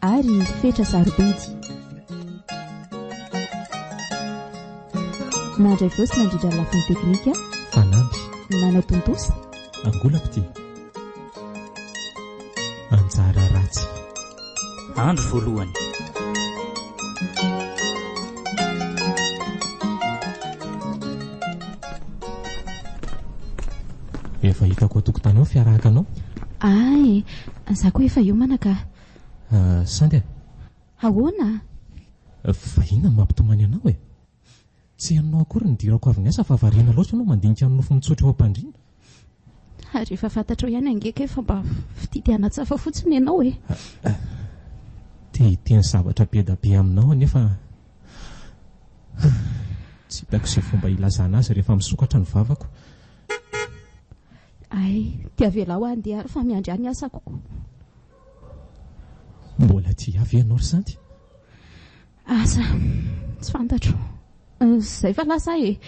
ary fetra sarobidy. Nandray voice nandritra ny lafiny teknika. Fanamby. Nanatontosa. Angolam-pitia. Anjara ratsy. Andro voalohany. Efa hitako atokotanao fiarahaka anao. Ay, za koa efa hiomana ka. Sandy a! Ahoana? Vahiny no mampitomany anao e! Tsy henonao akory ny dirako avy niasa fa variana loatra ianao mandinika ny nofo mitsotra eo am-pandriana. Ary efa fantatrao ihany ange kay fa mba fitia te hanatsafa fotsiny ianao e! Te hiteny zavatra be da be aminao anefa tsy hitako izay fomba hilazana azy rehefa misokatra ny vavako. Ay, dia avelao handeha ary fa miandry ahy ny asako koa. Mbola tsy avy ianao ry Santy? Asa, tsy fantatro. Izay fa lasa aho e!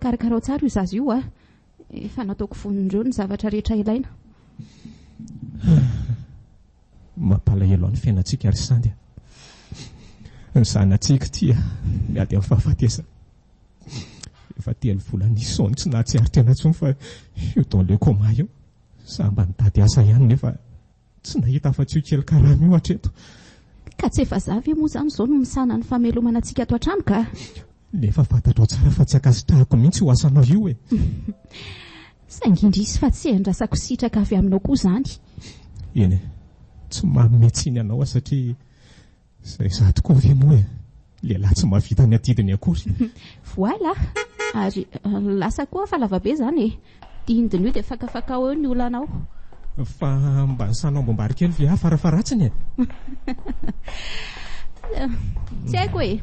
Karakarao tsara io zaza io an! Efa nataoko vonin'ireo ny zavatra rehetra ilaina. Mampalahelo ny fiainantsika ry Sandy a! Ny zanatsika tia miady amin'ny fahafatesana. Efa telo volana izao tsy nahatsikaritra anao intsony fa eo dans le coma eo. Izaho mba nitady asa ihany nefa tsy nahita afa-tsy io kely karama io hatreto. Ka tsy efa za ve moa izany izao no misahana ny famelomana antsika ato an-trano ka! Nefa fantatrao tsara fa tsy ankasitrahako mihitsy io asanao io e! Saingy indrisy fa tsy iandrasako sitraka avy aminao koa izany. Eny e! Tsy manome tsiny anao aho satria. Izay izaho tokoa ve moa e! Lehilahy tsy mahavita ny adidiny akory. Voilà! Ary lasa koa fa lavabe izany e! Dindin' io dia fakafakao eo ny olanao. Fa mba ny sanao amboam-bary kely ve aho farafaharatsiny e! Tsy haiko e!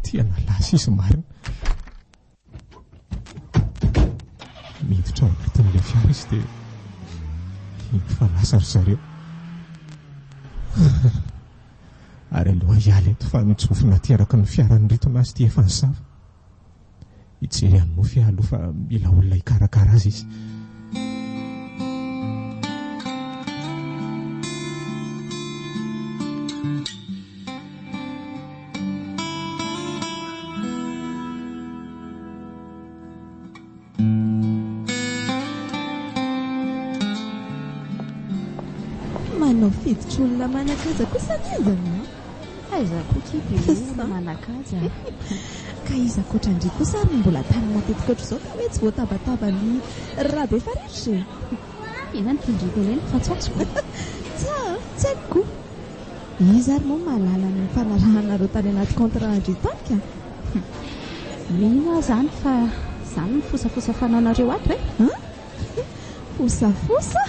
Tena lasa izy marina. Miditra ao anatin'ilay fiara izy dia hino fa lasa ry zareo. Ary aloha hiala eto fa mijofona aty araka ny fiaran'ny ritona azy ity efa ny sava. Hijery an'i Mofy aho aloha fa mila olona hikarakara azy izy. Manao fiditry olona manan-kaja kosa anie izy aminao. Fa iza koa akia be olona manan-kaja a! Ka iza ankoatran-dry kosa ary no mbola tany matetika ohatr'izao ka hoe tsy voatabataba an'i Rabefaritra e! Ianao no mpitondra tena eny fa tsy atsy ko. Tsy ahy an, tsy aiko ko. Iza ary moa mahalala ny nifanarahanareo tany anaty contrat an-dry Tafika? Mino aho izany fa izany no fosafosa fananareo ato e! An? Fosafosa?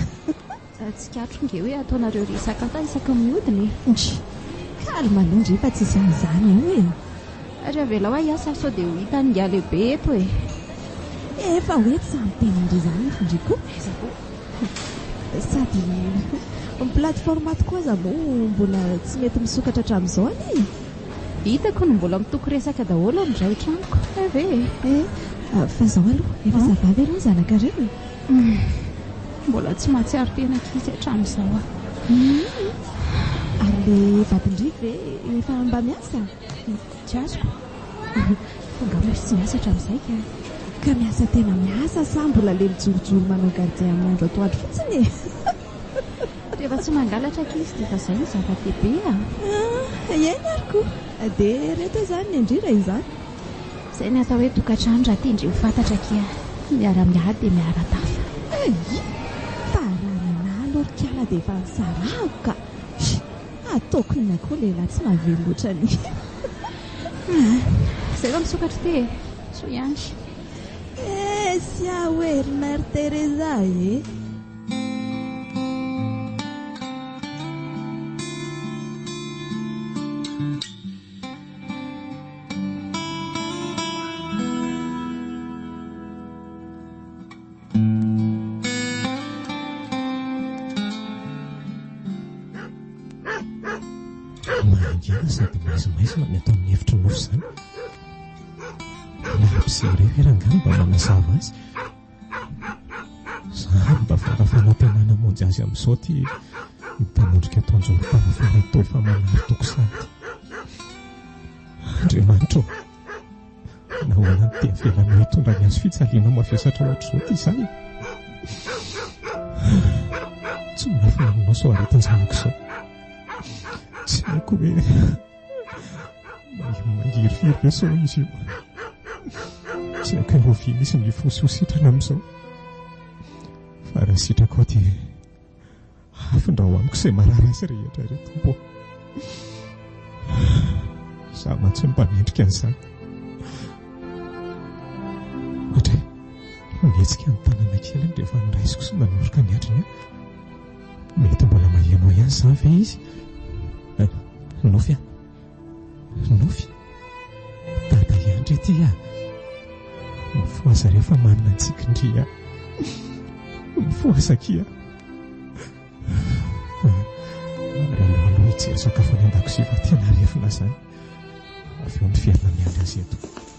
Tsikatro nge hoe ataonareo ry Sakata isaky ny miodina e! Ndry! Calme aloha ndry fa tsy izany izany io e! Ary avelao aho hiasa sao dia ho hitan'ny ingahy lehibe eto e! Efa hoe tsy ampy teny indry izany eto indry koa. Aiza koa. Sady ny plateforme tokoa aza moa mbola tsy mety misokatra hatramin'izao anie e! Hitako ny mbola mitoko resaka daholo amin'izao eto tranoko. Hay ve e! Eh, fa izao aloha efa ça va ve ny zanakareo e? Humm, mbola tsy mahatsiaro tena ankizy hatramin'izao aho. Humm, ary ilay vadin-dry ve efa mba miasa? Tsy azoko fa angaha mbola tsy miasa hatramin'izay ka. Ka miasa tena miasa sa mbola le mijorojoro manao gardien amin'ny andro atoandro fotsiny e? Rehefa tsy mangalatra ankizy dia efa izay no zava-dehibe a! Ah, iaina ary koa dia reto izany ny andrira izany. Izay ny atao hoe tokantrano raha tendry ho fantatra akia. Miara-miady dia miara-tafa. Ayy! Fa raha nanahy lorikala dia efa nisarahako ka! Ataoko inona koa lehilahy tsy mahavelo loatra ny Izay va misokatra ity e? Soa ihany. Eh, sia hoe ry Mère Teresa eh. Mangina sady maizimaizina ny ato amin'ny efitry ny nofy izany. Ny mpisera io ve rangahy no mba manazava azy? Izaho ary mba fara fanantenana hamonjy azy amin'izao ity mitanondrika eto an-jorom-parafara ito efa manary toko sahady. Andriamanitra ô! Nahoana no dia avelanao hitondra ny hazo fijaliana mavesatra hoatr'izao ity zaza? Tsy miafina aminao izao aretin-janako izao. Tsy haiko hoe mangirifiry ve sao izy io. Tsy haiko hoe hovia misy mifosy ho sitrana amin'izao. Fa raha sitrakao dia Hafindra ho amiko izay marary azy rehetra, ry Tompo ô. Izaho mantsy no mpanendrika an'izany. Ohatra hoe nihetsika ny tanana kely rehefa noraisiko sy nanoroka ny andriny. Mety mbola maheno ahy ihany izany ve izy? Nofy an! Nofy? Dada i Andry ity a! Mifohaza re fa manina ny tsikin-dry a! Mifohaza aky a! Ary aleo aloha hijery sakafo any an-dakozia fa tena arefina izany. Avy eo miverina miandry azy eto.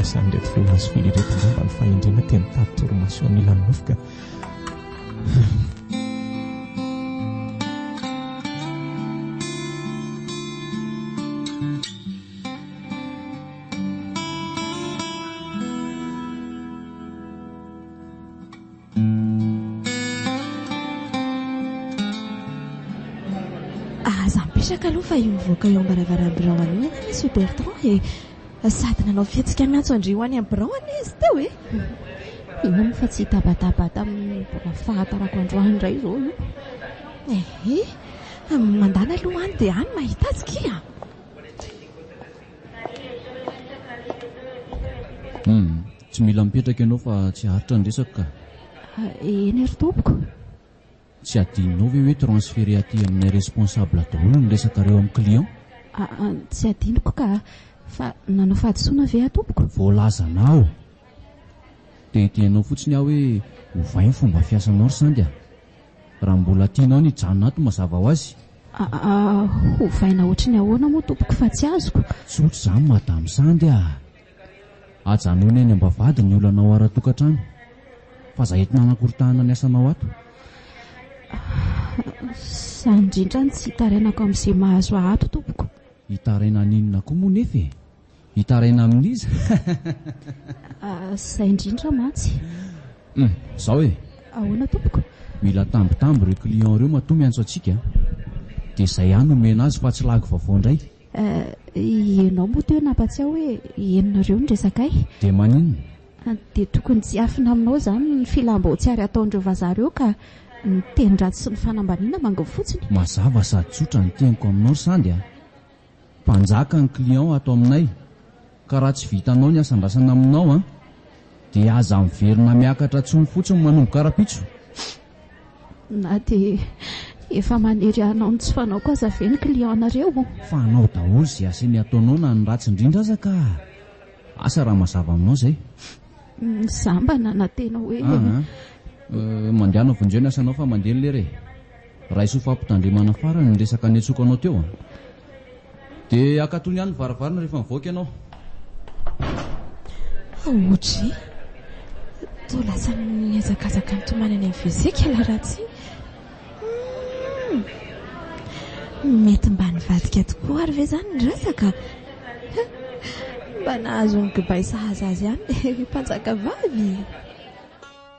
Asan'ireto feon'izy folo ireto izao mba ny fahendrena teny tady torimaso anilan'ny nofoka. Aza mipetraka aloha fa io mivoaka eo am-baravaram-birao anio ianao Monsieur Bertrand e. Sady nanao fihetsika miantso an-dry ho any amin'ny birao anie izy teo e! Mino aho fa tsy hitabataba tamin'ny mbola fahatarako androany indray izao io. Ehe, mandany aloha any dia any mahita azy kia! Hum, tsy mila mipetraka ianao fa tsy haharitra ny resako ka. Eny ry tompoko. Tsy adinonao ve hoe transférer aty aminay responsable daholo ny resakareo amin'ny client? Aa tsy adinoko ka a! Fa nanao fahadisoana ve aho tompoko? Voalazanao! Dia hitenenao fotsiny aho hoe ovay ny fomba fiasanao ry Sandy a! Raha mbola tianao ny hijanona ato mazava ho azy. Aa hovaina ohatry ny ahoana moa tompoko fa tsy azoko? Tsotra izany madame Sandy a! Ajanony any ambavahady ny olanao ara-tokantrano fa za eto nanakoritahana ny asanao ato. Za indrindra no tsy hitarainako amin'izay mahazo ahy ato tompoko. Hitaraina an'inona koa moa nefa e? Hitaraina amin'iza? Za indrindra mantsy. Hum, zao e. Ahoana tompoko? Mila tambitamby ireo clients ireo matoa miantso antsika dia zay aho no omena azy fa tsy lagy vaovao indray. Eh, ianao moa teo nampatsiaho hoe ianona ireo no resaka ahy. Dia maninona? Ah, dia tokony tsy hafina aminao izany ny filam-bao tsy ary ataon'ireo vazaha ireo ka ny tenin-dratsy sy ny fanambaniana manginy fotsiny. Mazava sady tsotra ny teniko aminao ry Sandy a! Mpanjaka ny client ato aminay. Ka raha tsy vitanao ny asandrasana aminao an, dia aza miverina miakatra tsony fotsiny manomboka rapitso. Na dia efa manery hanao ny tsy fanaoko aza ve ny client nareo? Fa hanao daholo izay asany ataonao na ny ratsy indrindra aza ka! Asa raha mazava aminao izay. Za mba nanantena hoe. Aa, mandehana vonjeo ny asanao fa mandeha ny lera e. Raiso fa ampitandremana farany ny resaka niantsoakanao teo a! De akatony ihany ny varavarana rehefa mivoaka ianao. Audrey, toa lasa mihazakazaka mitomany any amin'ny WC kely Ratsy. Humm! Mety mba nivadika tokoa ary ve izany ny resaka? Mba nahazo ny kibay sahaza azy ihany ilay mpanjakavavy.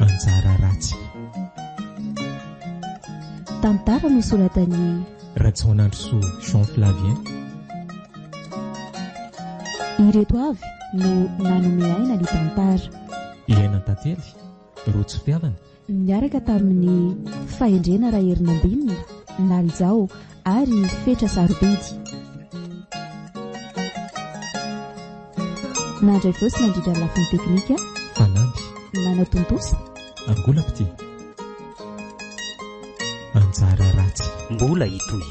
anjara ratsy. Tantara nosoratan'i Rajaonandrosoa Jean Flavien. Ireto avy no nanome aina ny tantara. Iaina Tantely, Rojo Fiavana. Niaraka tamin'ny Fahendrena Raherinambinina, Nalijao, ary fetra sarobidy. Nandray voasy nandritra ny lafiny teknika. Fanamby. Nanao tontosa. Angolam-pitia. Anjara ratsy. Mbola hitohy.